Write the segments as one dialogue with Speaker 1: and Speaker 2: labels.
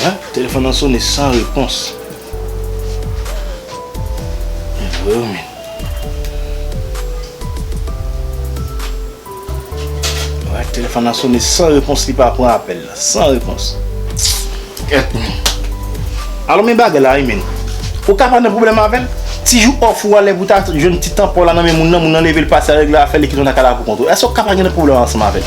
Speaker 1: Hein téléphone nan sone san repons. E vre yo men. Wè téléphone nan sone san repons li pa pran apèl la, san repons. Kèt men. Alo men bagay la wi men. Ou ka pa nan pwoblèm avèl? Ti jou off ou a lè pou ta jwenn ti tan paw la nan men moun nan, moun nan leve li pase a regle afèl li kite w nan kay la pou kont ou. Èske ou ka pa gen nan pwoblèm ansanm avèl?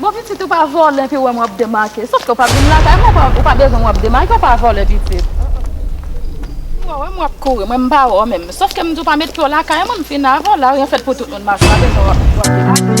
Speaker 2: Bon pitit ou pa vòlè epi ou wèm wap demake sofke ou pa vin lakay mwen ou pa bezwen mwen wap demake ou pa vòlè pitit mwen wèm wap kouri mwen mpa wè ou menm sofke mdi ou pa met pye w lakay mwen mfin avèw la ryen fèt pou tout moun mache pa bezwen wap demake.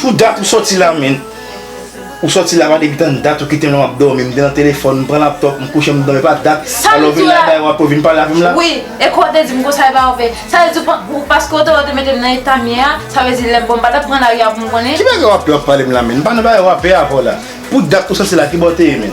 Speaker 1: Pou dat ou soti la men Ou soti la mande bitan dat ou kite m la map domi m te nan telefon m pran laptop m kouche m domi pa dat sa lè w vin la kay wap vin pale avè m la wi e kou w te di m
Speaker 2: konsa epa ou fè sa lè di ou paske ou te wè ou te mete m nan eta m ye a sa vle di lè m bon m pa ta pran lari a pou m konnen. Ki bagay wap pale m la
Speaker 1: menn m pa nan bagay wap pale avè w la pou dat ou soti la ki bò w te ye menn.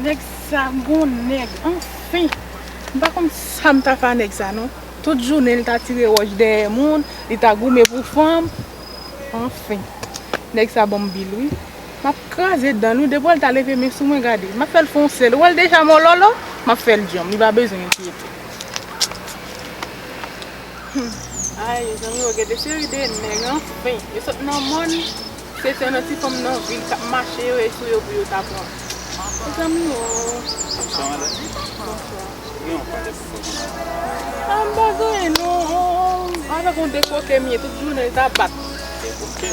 Speaker 3: Nèg sa bon nèg anfin. M pa konn sa m ta fè a nèg sa non. Tout jounen li ta tire wòch dèyè moun, li ta goumen pou fanm. Anfin. Nèg sa banm bil wi. M ap kraze dan l wi. Depi wè l ta leve men sou mwen gade. M ap fè l fon sèl. Ou wè l deja mòlòlò. M ap fè l djanm. Li pa bezwen enkyete. Humm ay mezanmi o gen de seri de nèg anfin yo sot nan mòn se te nan ti fanm nan vil kap mache yo ye sou yo pou yo ta pran mezanmi o. Bonswa madam. Bonswa. Ou gen yon pale pou fè pou mwen? Ah m pa gen non. Avèk yon dekoke m ye tout jounen l ta bat. Dekoke?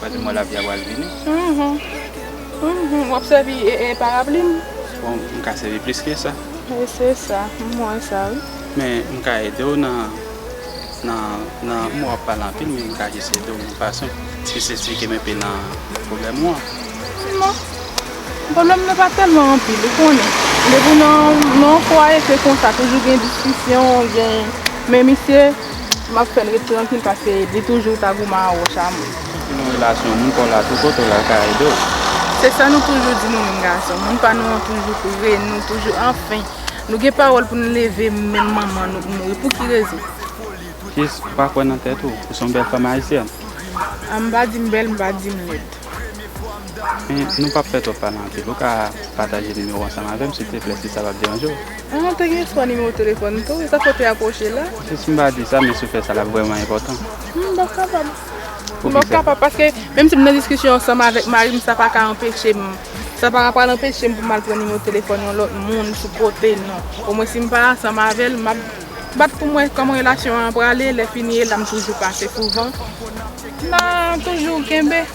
Speaker 4: Kote mo lapli a pral vini?
Speaker 3: Hum wap sèvi parapli m. Bon m ka
Speaker 4: sèvi plis ke sa. Wi se sa
Speaker 3: m wè sa wi. Men m ka ede
Speaker 4: w nan nan m wè wap pale anpil men m ka jis ede w yon fason jis esplike m enpe nan pwoblèm ou an.
Speaker 3: Non pwoblèm nan pa tèlman anpil ou konnen depi nan yon fwaye se konsa toujou gen diskisyon gen men misye. Map fèl ret trankil paske li toujou ta gouman a wòch a mwen. Ki pou yon relasyon
Speaker 4: moun paw la tou kote w la ka ede w. Se sa nou
Speaker 3: toujou di nou menm gason, moun pa nou an toujou pre nou, toujou anfen, nou gen pawòl pou nou leve menm manman nou k mouri pou ki rezon? Kiys ou
Speaker 4: pa kwè nan tèt ou, ou son bèl fanm ayisyèn. An m pa
Speaker 3: di m bèl m pa di m lèd.
Speaker 4: Men nou pap fè twòp pale anpil ou ka pataje nimewo ansanm avèm silteplè si sa pap deranje w. Mwen te gen fwa
Speaker 3: nimewo telefòn li tou wi, sa fè w te apwoche l la? Mwen si m pa di sa men
Speaker 4: si w fè sa l ap vrèman enpòtan. M pa kapab. M pa
Speaker 3: kapab paske menm si m nan diskisyon ansanm avèk mari m sa pa ka anpeche m, sa pa pral anpeche m pou m al pran nimewo telefòn yon lòt moun pou pote non. Omwen si m pa ansanm avè l m ap bat pou m wè kòman relasyon an prale, lèfini e la m toujou pase souvan. M a toujou kenbe.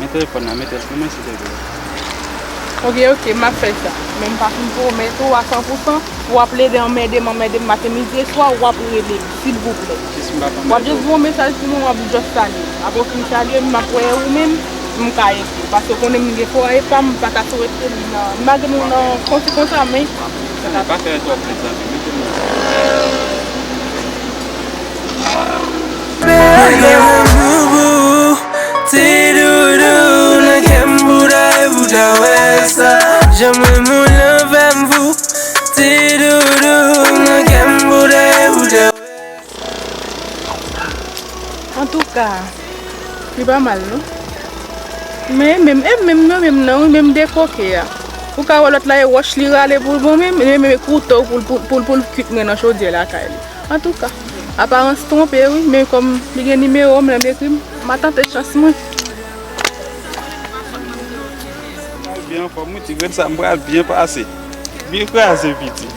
Speaker 4: Men telefon nan metel pou mwen silvouplè. Ok ok map fè sa.
Speaker 3: Men m pa fin pwomèt ou a san pou san pou ap plede anmède m anmède m maten midi e swa wap rele m silvouplè. Jis m pap anmède w. Wap jis voye m mesaj pou mwen wap just salye m. Aprè w fin salye m map wè ou menm pou m ka ede w. Paske w konnen m gen kò epa m pa ta swete m nan malgre m nan konsi konsa men. Map fè sa. Pa fè
Speaker 4: twòp lèt zanmi m. Mete m nan.
Speaker 3: Antouka li pa mal non Men e menm e menm nan menm nan wi menm de koke a Ou ka wè lòt la e wòch li rale pou l bon menm e menm e kouto pou l pou l kwit mwen nan chodyè lakay li. Antouka aparans twonpe wi men kòm li gen nimewo m lè m ekri ma tante chans mwen.
Speaker 5: Mwen byen anfòm wi ti grenn sa m pral byen pase. Byen kraze piti.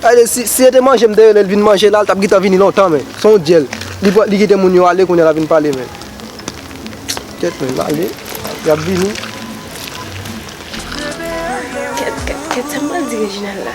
Speaker 6: Tande si se te manje m te relel vin manje la l tap gintan vini lontan men son w dyèl li kite moun yo ale kounya lap vin pale men kèt men lale yap vini. Kèt
Speaker 7: kèt kèt sa mwen di Reginald la.